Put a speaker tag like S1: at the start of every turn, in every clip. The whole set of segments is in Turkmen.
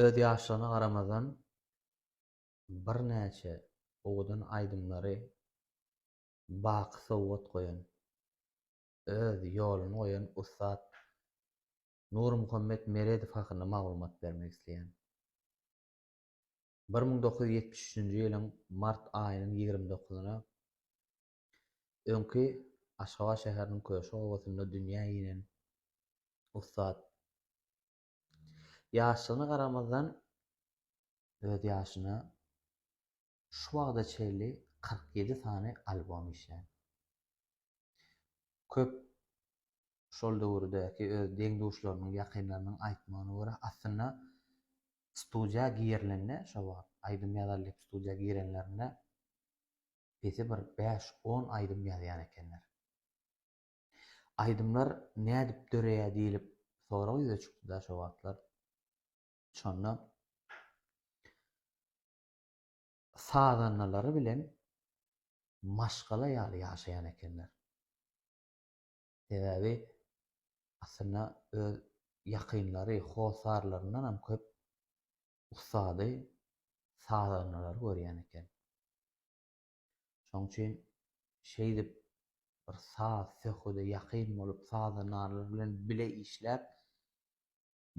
S1: Öz ýaşlygyna garamazdan, birnäçe owadan aýdymlary baky sowgat goýan, öz ýoluny goýan ussat Nurmuhammet Meredow hakynda maglumat bermek isleýän. Bir müň dokuz ýüz ýetmiş üçünji ýylyň mart aýynyň ýigrimi dokuzyna Öňki Aşgabat şäheriniň Köşk obasynda dünýä inen ussat ýaşlygyna garamazdan, öz ýaşyna şu wagta çenli kyrk ýedi sany albom işlän. Köp şol döwürdäki öz deň-duşlarynyň, ýakynlarynyň aýtmagyna görä, aslynda studiýa girilende, şo wagt aýdym ýazalydyp studiýa girenlerinde pesi bir bäş-on aýdym ýazýan ekenler. Aýdymlar nädip döreýär diýlip sorag ýüze çykdy-da şo wagtlar. Şonda sazandalary bilen maşgala ýaly ýaşaýan ekenler. Sebäbi aslynda öz ýakynlary, hossarlaryndanam köp ussady sazandalary görýän eken. Şoň üçin şeýdip bir saz, söhbede ýakyn bolup, sazandalar bilen bile işläp,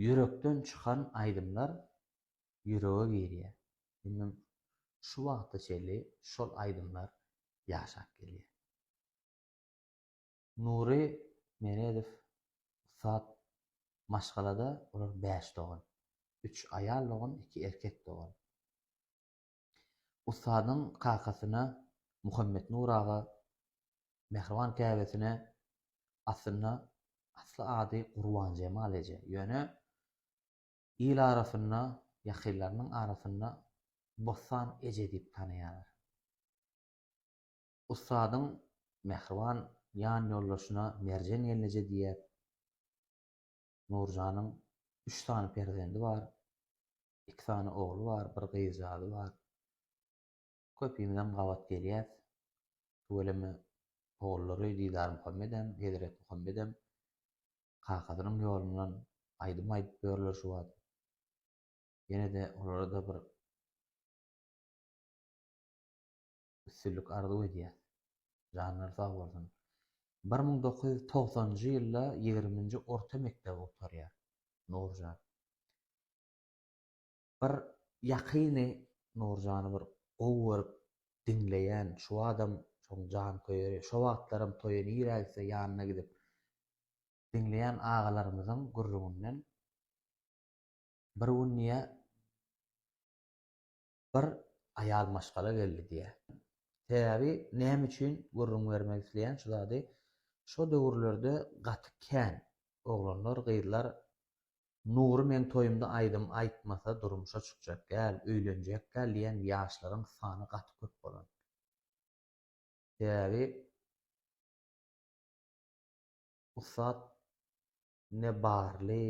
S1: ýürekden çykan aýdymlar ýürege girýär. Indi şu wagta çenli şol aýdymlar ýaşap gelýär. Nury Meredow ussat maşgalada olar bäş dogan. Üç aýal dogan, iki erkek dogan. Ussadyň kakasyna Muhammetnur aga, mähriban käbesine aslynda asly ady Gurbanjemal eje. Ýöne il arasynda, ýakynlarynyň arasynda Bossan eje diýip tanaýarlar. Ussadyň mähriban ýanýoldaşyna Merjen gelneje diýer. Nurjanyň üç sany perzendi bar. Iki sany ogly bar, bir gyzjagazy bar. Köpimizem gabat gelýäs. Tüweleme ogullary Didarmuhammedem, Hezretmuhammedem kakasynyň ýolundan aýdym aýdyp ýörler şu wagt. Ýene-de olara-da bir. Üstünlik arzuw edýäs. Janlary sag bolsun. Bir müň dokuz ýüz togsanynjy ýylda ýigriminji orta mekdebi gutarýar Nurjan. Bir ýakyny Nurjany bir gowy görüp diňleýän şu adam şoň janköýeri. Şo wagtlaram toýa nirä gitse ýanyna gidip diňleýän agalarymyzyň gürrüňinden bir gün diýýär Bir aýal maşgala geldi diýýär. Sebäbi näme üçin gürrüň bermek isleýän şu zady, şo döwürlerde gaty kän oglanlar, gyzlar Nury meň toýumda aýdym aýtmasa durmuşa çykjak däl, öýlenjek däl diýen ýaşlaryň sany gaty köp bolan. Sebäbi ussat ne barly,